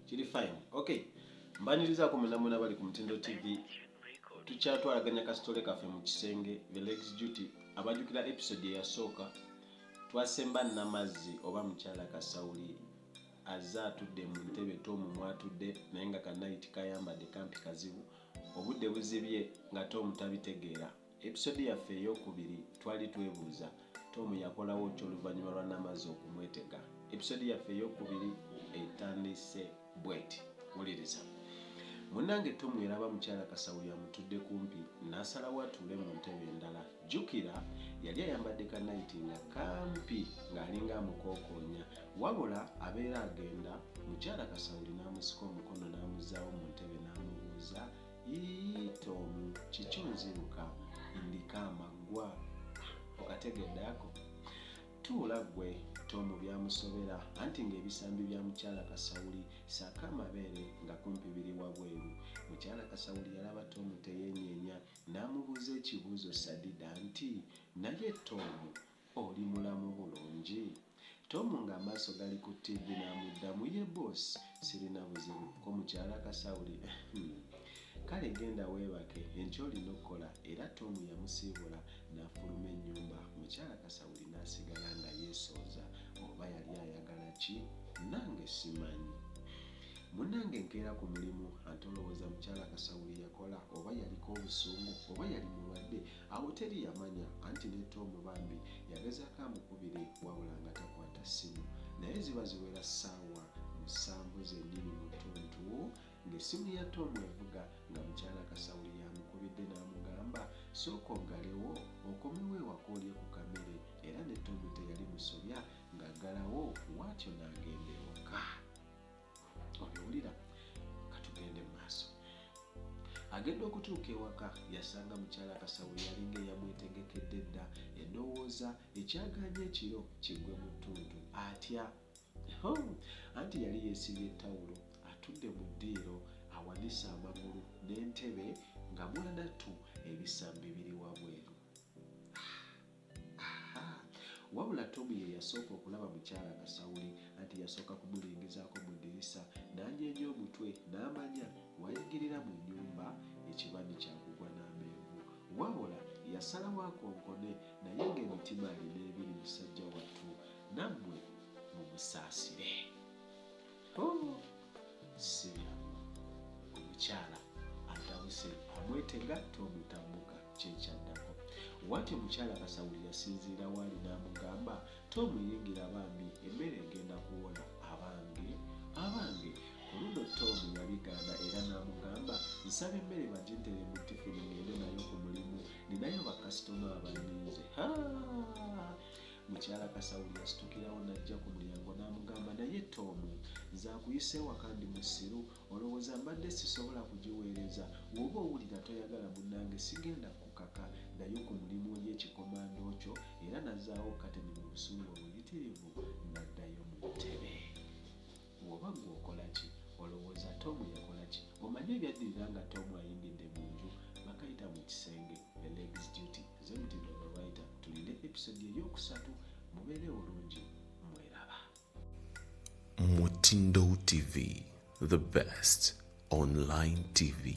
kiri fine okay mbanirizaako munamuna bali ku mutindo tv tukyatwalaganya kasitole kaffe mu kisenge the legs duty abajukira episode eyasooka twasemba namazzi oba mukyala kasawuli azze atudde mu ntebe tomu mwatudde naye nga kanayiti kayambadde kampi kazibu obudde buzibye nga tomu tabitegeera Episode yaffe eyokubiri twali twebuuza Tom yakolawo ki oluvanyuma lwa Namazzi okumwetega. Episode yaffe eyokubiri etandise bweti. Wuliriza. Munange Tom yalaba mukyala Kasawuli amutudde kumpi nasalawo atuule mu ntebe endala. Jukira yali ayambadde ka night nga kampi ng'alinga amukokoonya wabula abeera agenda mukyala Kasawuli namusika omukono namuzaawo mu ntebe namubuuza Yii tomu kiki oziruka ndika amaggwa okategedde ako tuula gwe tomu byamusobera anti ng'ebisambi bya mukyala kasawuli saako amabeere nga kumpi biri wabweru mukyala kasawuli yalaba tomu teyenyeenya n'amubuuza ekibuuzo sadida nti naye tomu Oli mulamu bulungi? Tom nga amaaso gali ku ttivi n'amuddamu, Yee boss, sirina buzibu. Ko mukyala Kasauli, Uhmm. Kale genda weebake, enkya olina okukola. Era Tom yamusiibula n'afuluma ennyumba, mukyala Kasauli n'asigala nga yeesooza oba yali ayagala ki? Nange simanyi. Munnange nkeera ku mulimu ate olowooza mukyala Kasauli yakola oba yaliko obusungu oba yali mulwadde? Awo teri yamanya anti ne Tom bambi yagezaako amukubire wabula nga takwata ssimu naye ziba ziwera ssaawa musanvu zennyini mu ttuntu ng'essimu ya Tom evuga nga mukyala Kasawuli y'amukubidde n'amugamba sooka oggalewo okomewo ewaka olye ku kamere era ne Tom teyali musobya ng'aggalawo bwatyo n'agenda ewaka. obiwulira katugende mu maaso agenda okutuuka ewaka yasanga mukyala kasawo yalinga eyamwetegekedde dda endowooza ekyaganya ekiro kigwe mu ttuntu atya anti yali yeesibye tawulo atudde mu ddiiro awanise amagulu n'entebe nga mwanattu ebisambi biri wabweru Ahaa! Wabula Tom ye yasooka okulaba mukyala Kasawuli, anti yasooka kumulingizaako mu ddirisa n'anyeenya omutwe n'amanya w'ayingirira mu nnyumba ekibani kya kugwa n'amenvu. Wabola yasalawo akonkone naye ng'emitima alina ebiri musajja wattu nammwe mumusaasire. sibyangu omukyala atabuse amwetega tomutambuka kyekyaddako wati omukyala kasawuli yasinziira waali n'amugamba tomuyingira bambi emmere egenda kuwola abange abange ku luno tomu yabigaana era n'amugamba nsaba emmere bagintere mu tifuni ngende nayo ku mulimu ninayo bakasitoma abalinze Mukyala Kasawuli yasitukirawo n'ajja ku mulyango n'amugamba, naye Tomu, nze akuyise ewaka ndi musiru, olowooza mbadde sisobola kugiweereza? W'oba owulira toyagala munnange sigenda kukukaka. Ddayo ku mulimu olye ekikomando kyo. Era n'azzaawo kateni mu busungu obuyitirivu n'addayo mu ntebe. Woba gwe okolaki? Olowooza Tom yakolaki? Omanyi ebyaddirira nga Tom ayingidde mu nju? Bakayita mu kisenge, the legs duty. Nze mutindo the writer. Tulinde episode ey'okusatu. Mubeere bulungi. Mweraba. Mutindo TV, the best online TV.